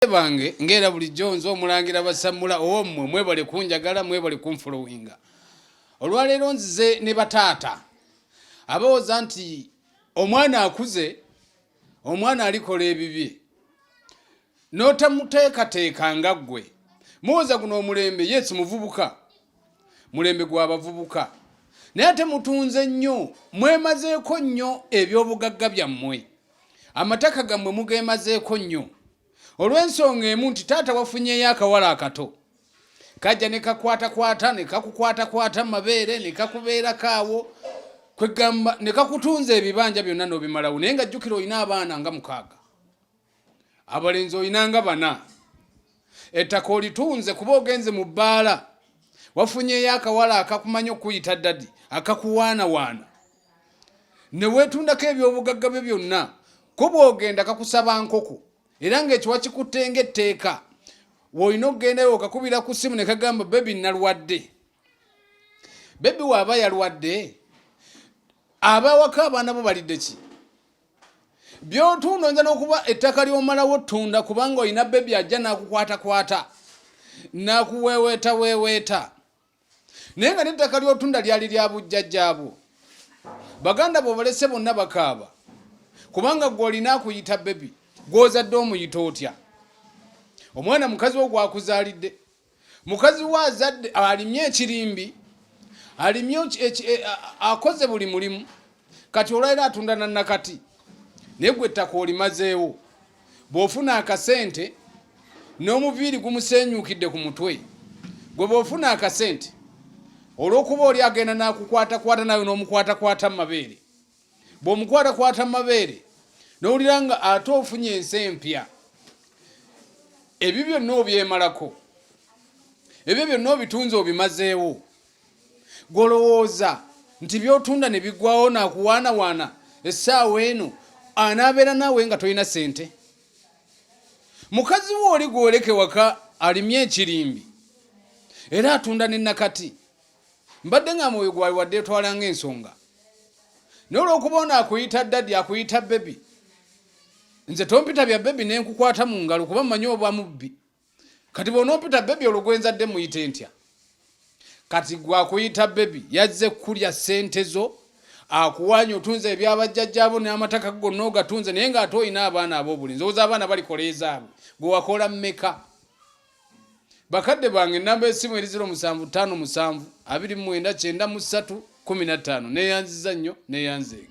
Bazadde bange ng'era bulijjo nze omulangira basammula owommwe mwebale kunjagala mwebale kunfolowinga olwaleero nzize ne bataata abawooza nti omwana akuze omwana alikola ebibye n'otamuteekateeka nga ggwe muwoza guno omulembe yesi muvubuka mulembe gwa bavubuka naye ate mutunze nnyo mwemazeeko nnyo ebyobugagga byammwe amataka gammwe mugemazeeko nnyo olw'ensonga emu nti taata wafunyeyo akawala akato kajja ne kakwatakwata ne kakukwatakwata mu mabeere ne kakubeerako awo kwegamba ne kakutunza ebibanja byonna n'obimalawo naye nga jjukira olina abaana nga mukaaga abalenzi olina nga bana ettaka olitunze kuba ogenze mu bbaala wafunyeyo akawala akakumanyi okuyita dadi akakuwaanawaana ne weetundako ebyobugagga byo byonna ko bw'ogenda kakusaba nkoko era ng'ekiwa kikutte ng'etteeka woolina okugendayo okakubira ku ssimu ne kagamba bebi nalwadde bebi waaba yalwadde abawaka abaana bo balidde ki byotunda oyinza n'okuba ettaka ly'omalawo ttunda kubanga olina bebi ajja n'akukwatakwata n'akuweeweeta weeweeta naye nga nettaka lyotunda lyali lya bujjajjaabwo baganda bobalese bonna bakaaba kubanga gwe olina akuyita bebi gwozadde omuyita otya omwana mukazi wo gwakuzaalidde mukazi we azadde alimye ekirimbi alimye e, akoze buli mulimu kati olwaira atunda na nakati naye gwe ettaka olimazeewo bw'ofuna akasente n'omuviiri gumusenyuukidde ku mutwe gwe bw'ofuna akasente olw'okuba oli agenda n'akukwatakwata nawe n'omukwatakwata mu mabeere bw'omukwatakwata mu mabeere n'owulira nga ate ofunye ensi empya ebyo byonna obyemalako ebyo byonna obitunzi obimazeewo golowooza nti byotunda ne bigwawo nakuwaanawaana essaawa eno anaabeera naawe nga tolina sente mukazi we oli gwoleke waka alimye ekirimbi era atunda ne nakati mbadde nga mwoyo gwali wadde etwalanga ensonga naye olwokuba ono akuyita dadi akuyita bebi nze tompita bya bebi nenkukwata mu ngalo kuba mmanyi obwa mubbi kati bwonompita bebi olwo gwenzadde muyite ntya kati gwakuyita bebi yazze kulya sente zo akuwanya otunze ebyabajjajjabo n'amataka gonna ogatunze naye ng'ate olina abaana ab'obulinzi owoza abaana balikoleezaabwe gwe wakola mmeka bakadde bange namba esimu eri 0757 293 15 neyanziza nnyo neyanzeega